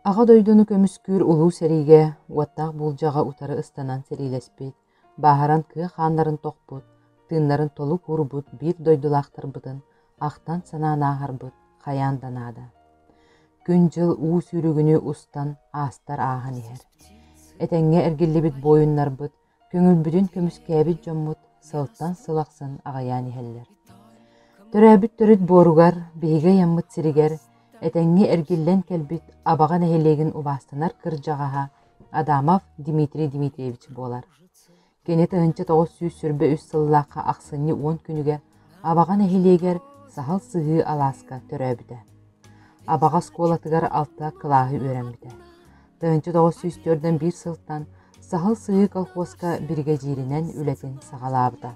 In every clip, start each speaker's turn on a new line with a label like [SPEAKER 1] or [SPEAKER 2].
[SPEAKER 1] Аҕа дойдуну көмүскүүр Улуу сэриигэ уоттаах буулдьаҕа утары ыстанан сэриилэспит, бааһыран кыа хааннарын тохпут, тыыннарын толук уурбут биир дойдулаахтарбытын ахтан-санаан ааһарбыт хайаан да наада. Күн-дьыл уу сүүрүгүнүү устан аастар ааһан иһэр. Этэҥҥэ эргиллибит буойуннарбыт, көҥүлбүтүн көмүскээбит дьоммут сылтан сыл ахсын аҕыйаан иһэллэр. Төрөөбүт төрүт буоругар, биһиги айаммыт сиригэр этэҥҥэ эргиллэн кэлбит Абаҕа нэһилиэгин убаастанар кырдьаҕаһа Адамов Дмитрий Дмитриевич буолар. Кини тыһыынча тоҕус сүүс сүүрбэ үс сыллаахха ахсынньы уон күнүгэр Абаҕа нэһилиэгэр саһыл сыһыы алааска төрөөбүтэ. Абаҕа оскуолатыгар алта кылааһы үөрэммитэ. Тыһыынча тоҕус сүүс төрдөн биир сылтан Саһыл сыһыы колхуоска биригэдьииринэн үлэтин саҕалаабыта.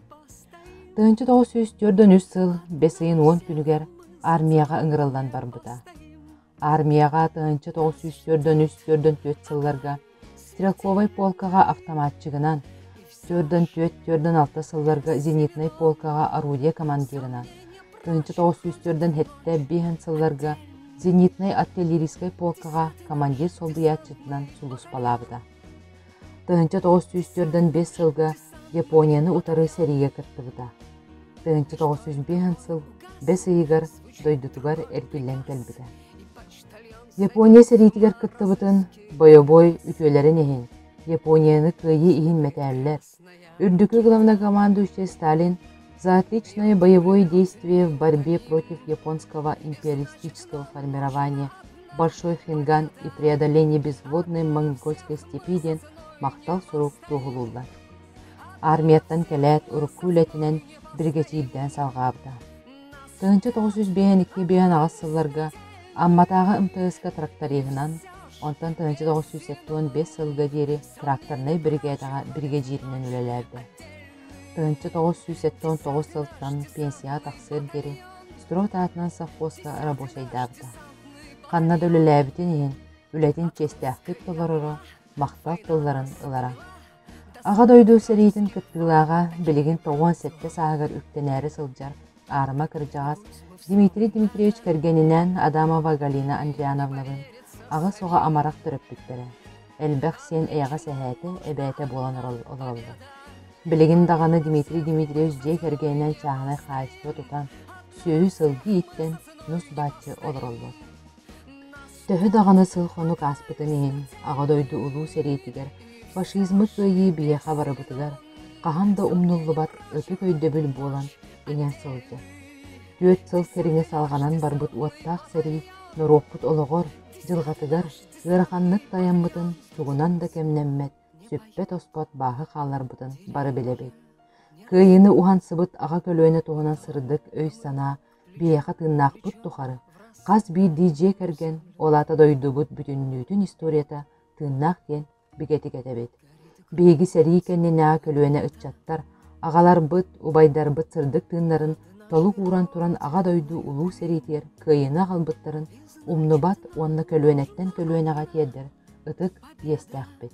[SPEAKER 1] Тыһыынча тоҕус сүүс төрдөн үс сыл бэс ыйын уон күнүгэр армияҕа ыҥырыллан барбыта. Аармыйаҕа тыһыынча тоҕус сүүс түөртөн үс түөртэн түөрт сылларга Стрелковай полкаҕа автоматчигынан, түөртэн түөрт түөртэн алта сылларга зенитнай полкаҕа орудие командирынан, тыһыынча тоҕус сүүс түөртэн сэттэ биэһин сылларга зенитнай артиллерийскай полкаҕа командир солбуйааччытынан сулууспалаабыта. Тыһыынча тоҕус сүүс түөртэн биэс сылга Японияны утары сэриигэ кыттыбыта. Тыһыынча тоҕус сүүс биэс сыл бэс ыйыгар дойдутугар эргиллэн кэлбитэ. Япония сэриитигэр кыттыбытын бойобуой үтүөлэрин иһин Японияны кыайыы иһин мэтээллэр, Үрдүкү главнокомандующай Сталин «Заотличное боевое действие в борьбе против японского империалистического формирования Большой Хинган и преодоление безводной монгольской степи» диэн махтал сурук туоһулууллар. Армияттан кэлээт урукку үлэтинэн биригэдьиирдээн салҕаабыта. Тыһыынча тоҕус сүүс биэһин икки биэһин аҕыс сылларга Амматааҕы МТС-ка тракториһынан, онтон тыһыынча тоҕус сүүс сэттэ уон биэс сылга диэри тракторнай биригээдэҕэ биригэдьииринэн үлэлээрдэ. Тыһыынча тоҕус сүүс сэттэ уон тоҕус сылтан пенсияҕа тахсыар диэри стройт аатынан совхозка рабочайдаабыта. Ханна да үлэлээбитин иһин, үлэтин чиэстээхтик толороро, махтал тылларын ылара. Аҕа дойду сэриитин кыттыылааҕа билигин тоҕуон сэттэ сааһыгар үктэнээри сылдьар аарыма кырдьаҕас Дмитрий Дмитриевич кэргэнинээн Адамова Галина Андриановналыын аҕыс оҕо амарах төрөппүттэрэ, элбэх сиэн эйэҕэс эһээтэ, эбээтэ буолан олороллор. Билигин даҕаны Дмитрий Дмитриевич дьиэ кэргэнинээн чааһынай хаачыстыба тутан, сүөһү-сылгы ииттэн, нус-баччы олороллор. Төһө даҕаны сыл-хонук ааспытын иһин, Аҕа дойду Улуу сэриитигэр фашизмы кыайыы биһиэхэ барыбытыгар хаһан да умнуллубат ытык өйдөбүл буолан иҥэн сылдьар. Түөрт сыл кэриҥэ салҕанан барбыт уоттаах сэрии норуоппут олоҕор, дьылҕатыгар ыараханнык тайаммытын тугунан да кэмнэммэт, сүппэт-хоспот бааһы хаалларбытын бары билэбит. Кыайыыны уһансыбыт аҕа көлүөнэ туһунан сырдык өй-санаа Биһиэхэ тыыннаахпыт тухары хас биирдии дьиэ кэргэн, ол аата дойдубут бүтүннүүтүн историята тыыннаах диэн бигэтик этэбит. Биһиги сэрии кэннинээҕи көлүөнэ ыччаттар аҕаларбыт, убайдарбыт сырдык тыыннарын толук ууран туран Аҕа дойду Улуу сэриитигэр кыайыыны аҕалбыттарын умнубат уонна көлүөнэттэн көлүөнэҕэ тиэрдэр ытык иэстээхпит.